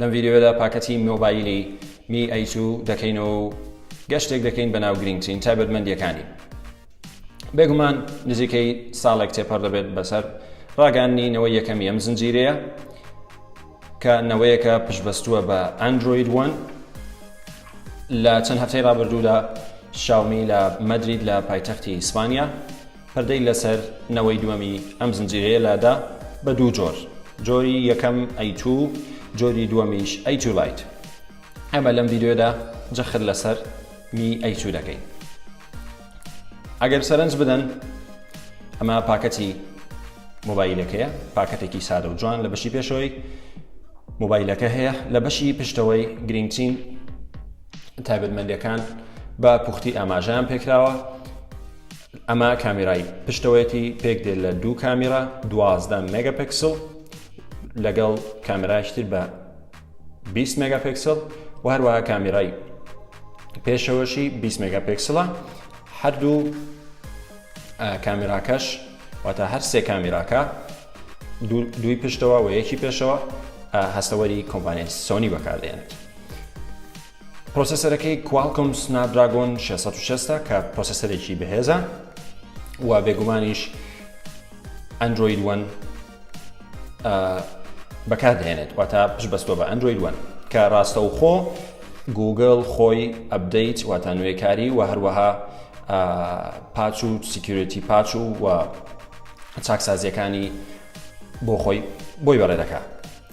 لەم ڤیدیۆیەدا پاکەتی مۆبایلی می ئەی تو دەکەینەوە و گەشتێک دەکەین بە ناو گرنگترین تایبەتمەندیەکانی بێگومان نزیکەی ساڵێک تێپەر دەبێت بەسەر ڕاگەاندنی نەوەی یەکەمی ئەم زنجیرەیە کە نەوەیەکە پشبەستووە بە ئەندروید وەن لە چەند هەفتەی ڕابردوودا شاومی لە مەدرید لە پایتەختی ئیسپانیا پردی لەسەر نەوەی دووەمی ئەم زنجیرەیە لادا. بە دوو جۆر جۆری یەکەم ئەی توو و جۆری دووەمیش ئەی توو لایت ئەمە لەم ڤیدیۆدا جەخت لەسەر می ئەی توو دەکەین ئەگەر سەرنج بدەن ئەمە پاکەتی مۆبایلەکەیە پاکەتێکی سادە و جوان لە بەشی پێشەوەی مۆبایلەکە هەیە لە بەشی پشتەوەی گرنگترین تایبەتمەندەکان بە پوختی ئاماژیان پێکراوە ئەمە کامیرای پشتەوەیەتی پێک دێت لە دوو کامیرا دوازدە مێگەپکسل لەگەڵ کامرایشتر بە 20 مێگاپکسل و هەروەها کامیرای پێشەوەشی 20 مێگاپکسلە هەردوو کامیراکەش واتە هەر سێ کامیراکە دوی پشتەوە و یەکی پێشەوە هەستەوەری کۆمپانیای سۆنی بەکاردێنێت پرۆسێسەرەکەی Qualcomm Snapdragon 660 ە کە پرۆسێسەرێکی بەهێزە و بێگومانیش Android One بەکاردێنێت واتە پش بەستوە بە Android One کە ڕاستەوخۆ گوگل خۆی ئەبدەیت واتە نوێکاری و هەروەها پاچ و سیکیورەتی پاچ و و چاکسازیەکانی بۆ خۆی بۆی بەڕێ دەکات.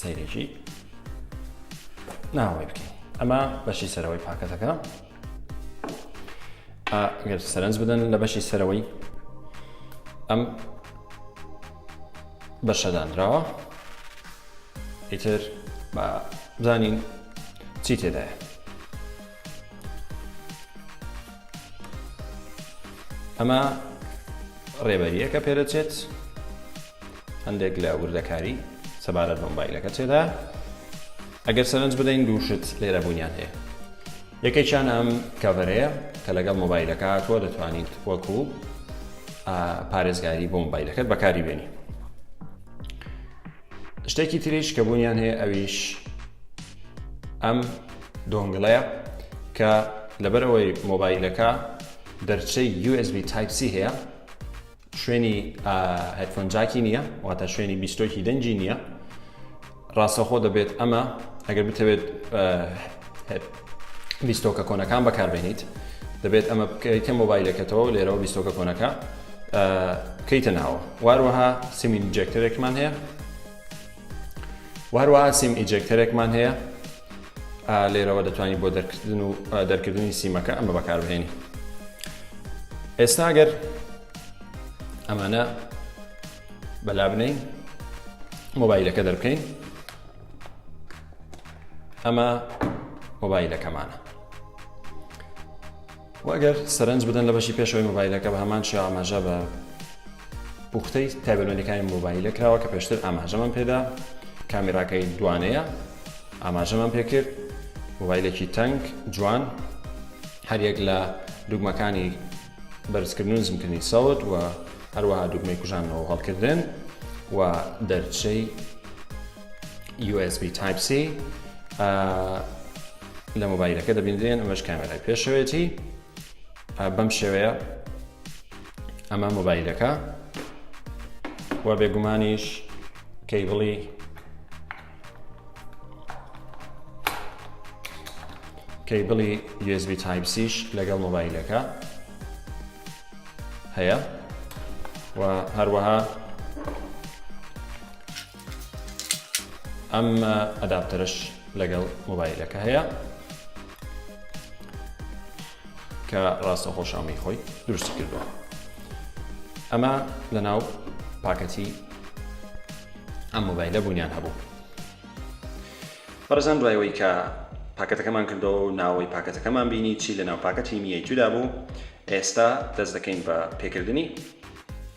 سەیرێکی ناوەی بکەین ئەمە بەشی سەرەوەی پاکەتەکە گەر سەرنج بدەن لە بەشی سەرەوەی ئەم بەشەدانراوە ئیتر بە بزانین چی تێدایە ئەمە ڕێبەریەکە پێدەچێت هەندێک لە وردەکاری سەبارەت بە مۆبایلەکە تێدا ئەگەر سەرنج بدەین دوو شت لێرە بوونیان هەیە یەکێکیان ئەم کەڤەرەیە کە لەگەڵ مۆبایلەکە هاتووە دەتوانیت وەکو پارێزگاری بۆ مۆبایلەکەت بەکاری بێنی شتێکی تریش کە بوونیان هەیە ئەویش ئەم دۆنگڵەیە کە لەبەرەوەی مۆبایلەکە دەرچەی USB Type C هەیە شوێنی هێدفۆن جاکی نییە واتە شوێنی بیستۆکی دەنگی نییە ڕاستەخۆ دەبێت ئەمە ئەگەر بتەوێت بیستۆکە کۆنەکان بەکاربێنیت دەبێت ئەمە بکە مۆبایلەکەتەوە لێرەوە بیستۆکە کۆنەکە بکەیتە ناوە واروەها سیمین جێکتەرێکمان هەیە و هەروەها سیم ئیجێکتەرێکمان هەیە لێرەوە دەتوانانی بۆ دەرکردن و دەرکردنی سیمەکە ئەمە بەکاربهێنی ئێستا گەر ئەمانە بەلا بنین مۆبایلەکە دەربکەین ئەمە مۆبایلەکەمانە و ئەگەر سەرنج بدەن لە بەشی پێشەوەی مۆبایلەکە بە هەمان شێوە ئاماژە بە پوختەی تایبەتمەندیەکانی مۆبایلە کراوە کە پێشتر ئاماژەمان پێدا کامیراکەی دوانەیە ئاماژەمان پێکرد مۆبایلێکی تەنگ جوان هەریەک لە دوگمەکانی بەرزکردن و نزمکردنی سەوت و هەروەها دوگمەی کوژانەوە هەڵکردن و دەرچەی USB Type C لە مۆبایلەکە دەبینرێن ئەمەش کامێرای پێشەوەێتی بەم شێوەیە ئەمە مۆبایلەکە و بێگومانیش کەیبڵی کەیبڵی USB تایپسیش لەگەڵ مۆبایلەکە هەیە و هەروەها ئەم ئەداپتەرش لەگەڵ مۆبایلەکە هەیە کە ڕاستە خۆشامی خۆی دروستی کردووە ئەمە لە ناو پاکەتی ئەم مۆبایلە بوونیان هەبوو بەڕزان دوایەوەی کە پاکەتەکەمان کردەوە و ناوەی پاکەتەکەمان بینی چی لە ناو پاکەتی میەی تودا بوو ئێستا دەست دەکەین بە پێکردنی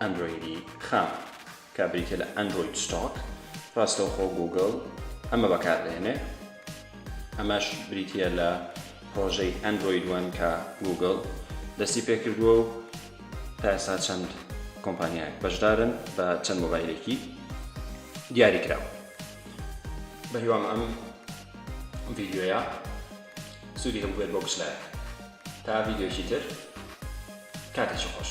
ئەندرۆیدی خام کە بریتیە لە ئەندرۆید ستۆک ڕاستەوخۆ گوگڵ ئەمە بەکاردێنێ ئەمەش بریتیە لە پرۆژەی ئەندرۆید وەن کە گوگڵ دەستی پێکردووە و تاسا چەند کۆمپانیایەک بەشدارن بە چەند مۆبایلێکی دیاری کراوە بەهیوام ئەم ڤیددیوە سودی هەبوبێت بۆ گشت لایەک تا ڤیدیۆیەکی تر کاتێکی خۆش.